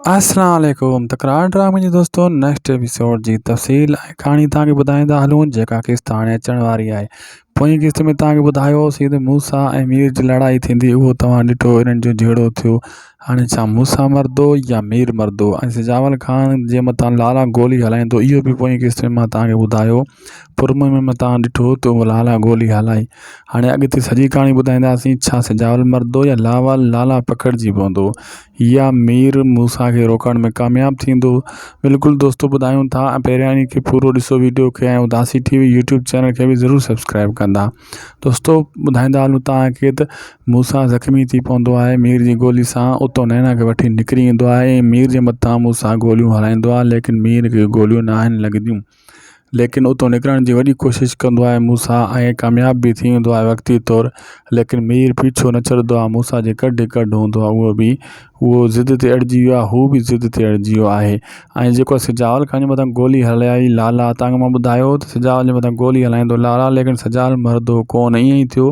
اسلام عليڪم تڪرار ڊرامي جي دوستو نيڪسٽ ايپيسوڊ جي تفصيل ۽ ڪھاڻي توھان کي ٻڌائيندا ھلون جيڪا قسط ھاڻي اچڻ واري آھي پوئين قسط ۾ توھان کي ٻڌايو ھوسين ته موسيٰ ۽ مير جي لڙائي ٿيندي اھو توھان ڏٺو انھن جو جھيڙو ٿيو ھاڻي ڇا موسيٰ مردو يا مير مردو ۽ سجاول خان جي مٿان لالا گولي ھلائيندو اھو به پوئين قسط ۾ مان توھان کي ٻڌايو پرمئي ۾ متان ڏٺو تو هو لالا گولي هلائي هاڻي اڳتي سڄي ڪهاڻي ٻڌائينداسين ڇا سجاول مرندو يا لاوال لالا پکڙجي پوندو يا مير موسيٰ کي روڪڻ ۾ ڪامياب ٿيندو بلڪل دوستو ٻڌايون ٿا ۽ پهريائين کي پورو ڏسو وڊيو کي ۽ Udasi T V YouTube channel کي به ضرور سبسڪرائب ڪندا دوستو ٻڌائيندا هلون تان کي ته موسيٰ زخمي ٿي پوندو آهي مير جي گولي سان اتو نينا کي وٺي نڪري ايندو آهي مير جي متان موسيٰ گوليون هلائيندو آهي ليڪن مير کي گوليون ناهن لڳنديون ليڪن اتو نڪرڻ جي وڏي ڪوشش ڪندو آهي موسيٰ ۽ ڪامياب به ٿي ويندو آهي وقتي طور ليڪن مير پيڇو نه ڇڏندو آهي موسيٰ جي ڪڍ هڪ ڪڍ هوندو آهي اهو به اهو ضد تي اڙجي ويو آهي هو به ضد تي اڙجي ويو آهي ۽ جيڪو سجاول خان جي مٿان گولي هلائي لالا تانگهه مان ٻڌايو هو ته سجاول جي مٿان گولي هلائيندو لالا ليڪن سجاول مرندو ڪو نه ائين ئي ٿيو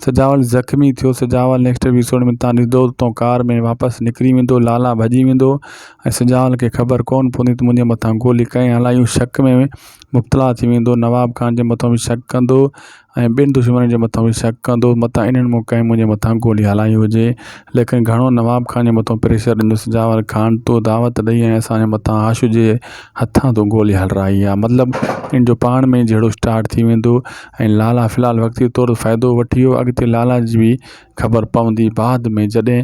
سجاول زخمي ٿيو سجاول نيڪسٽ ايپيسوڊ ۾ تان ڏسندو ته تون ڪار ۾ واپس نڪري ويندو لالا ڀڄي ويندو ۽ سجاول کي خبر ڪونه پوندي ته منهنجي مٿان گولي ڪنهن هلائي هو شڪ ۾ مبتلا ٿي ويندو نواب خان جي مٿان به شڪ ڪندو ۽ ٻين دشمنن جي مٿان به شڪ ڪندو متان انهن مون ڪنهن منهنجي مٿان گولي هلائي هجي ليڪن گهڻو نواب خان جي مٿان پريشر ڏيندو سجاول خان تو دعوت ڏئي ۽ اسان جي مٿان هاشو جي هٿان تون گولي هلرائي آ مطلب ان جو پاڻ ۾ جهيڙو اسٽارٽ ٿي ويندو ۽ لالا في الحال وقتي طور فائدو وٺي ويو اڳتي لالا جي به خبر پوندي بعد ۾ جڏهن